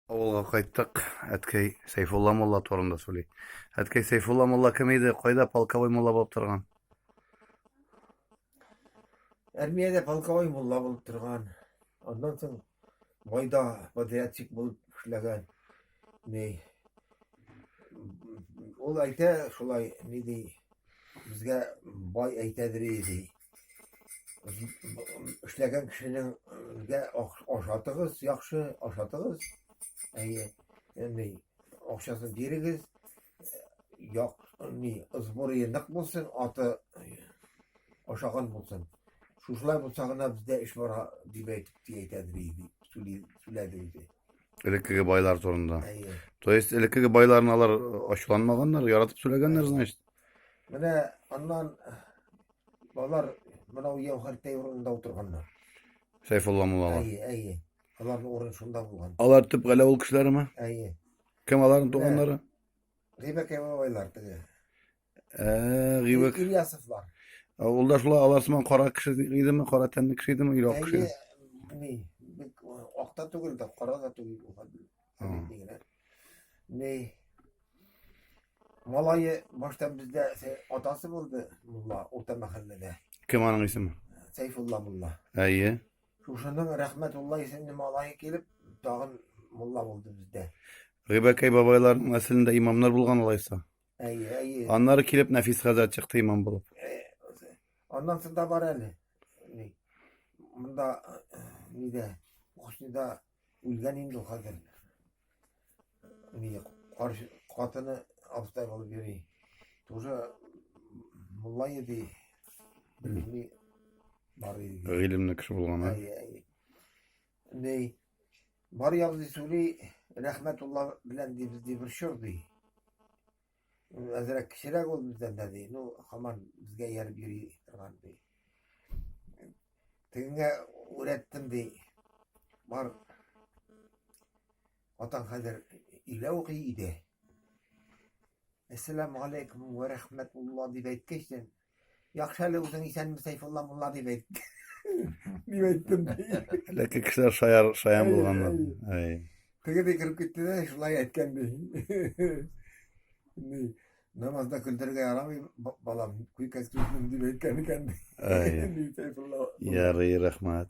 Авылга кайттык. Әткәй Сәйфулла мулла турында сөйли. Әткәй Сәйфулла мулла кем иде? Кайда полковой мулла булып торган? Армиядә полковой мулла булып торган. Аннан соң майда подрядчик булып эшләгән. Ни ул әйтә шулай, ни ди, безгә бай әйтә ди. эшләгән кешенеңгә ашатыгыз яхшы ашатыгыз әйе ни акчасын бирегез як ни сборы нык булсын аты ашаган булсын шушылай булса гына бездә эш бара дип әйтеп әйтәдер сүләде үзе элеккеге байлар турында то есть элеккеге байларны алар ачуланмаганнар яратып сүләгәннәр значит Менә аннан алар мынау Яухәртәй урынында утырганнар. Сәйфулла муллалар. Әйе, әйе. Аларның урын шунда булган. Алар төп галә ул кешеләреме? Әйе. Кем аларның туганнары? Гыйбәк Әбәбайлар теге. Ә, Гыйбәк. Ильясовлар. Ул да шулай алар сыман кара кеше идеме, кара тәнле кеше идеме, или ак кеше? Әйе, ни, акта түгел дә, кара да түгел. Совет дигәннәр. Ни малае баштан бездә сә- атасы булды мулла урта мәхәлләдә. Кем аның исеме? Сәйфулла мулла. Әйе. Шушының Рәхмәтулла исемле малае килеп, тагын мулла булды бездә. Гыйбәкәй бабайларның нәселендә имамнар булган алайса. Әйе, әйе. Аннары килеп Нәфис хәзрәт чыкты имам булып. Э, Аннан соң да бар әле. Ни, Монда э, нидә, Кушнида Үлгән инде ул хәзер. Ни каршы катыны абыстай булып йөри. Тоже мулла иде. Белми бар иде. Гыйлемле кеше булган. Ней бар ягыз сөйли рәхмәтулла белән дибез ди бер чор ди. Ул әзрәк кечерәк ул бездән дә, ди. Ну, хаман безгә ярып йөри торган, ди. Тегеңә үрәттем, ди. Бар. Атаң хәзер илә укый иде. Әссәламу алейкум вә рәхмәтулла дип әйткәчтен, Яхшы әле үзең исәнме, Сәйфулла мулла дип әйт. Дип әйттем. Ләкин кешеләр шаяр, шаян булганнар. Әй. Теге дә кереп китте дә, шулай әйткән ди. Ди, намазда көлдерергә ярамый, балам, күкәс килсен дип әйткән икән ди. Әй. Ди Сәйфулла. Ярый, рәхмәт.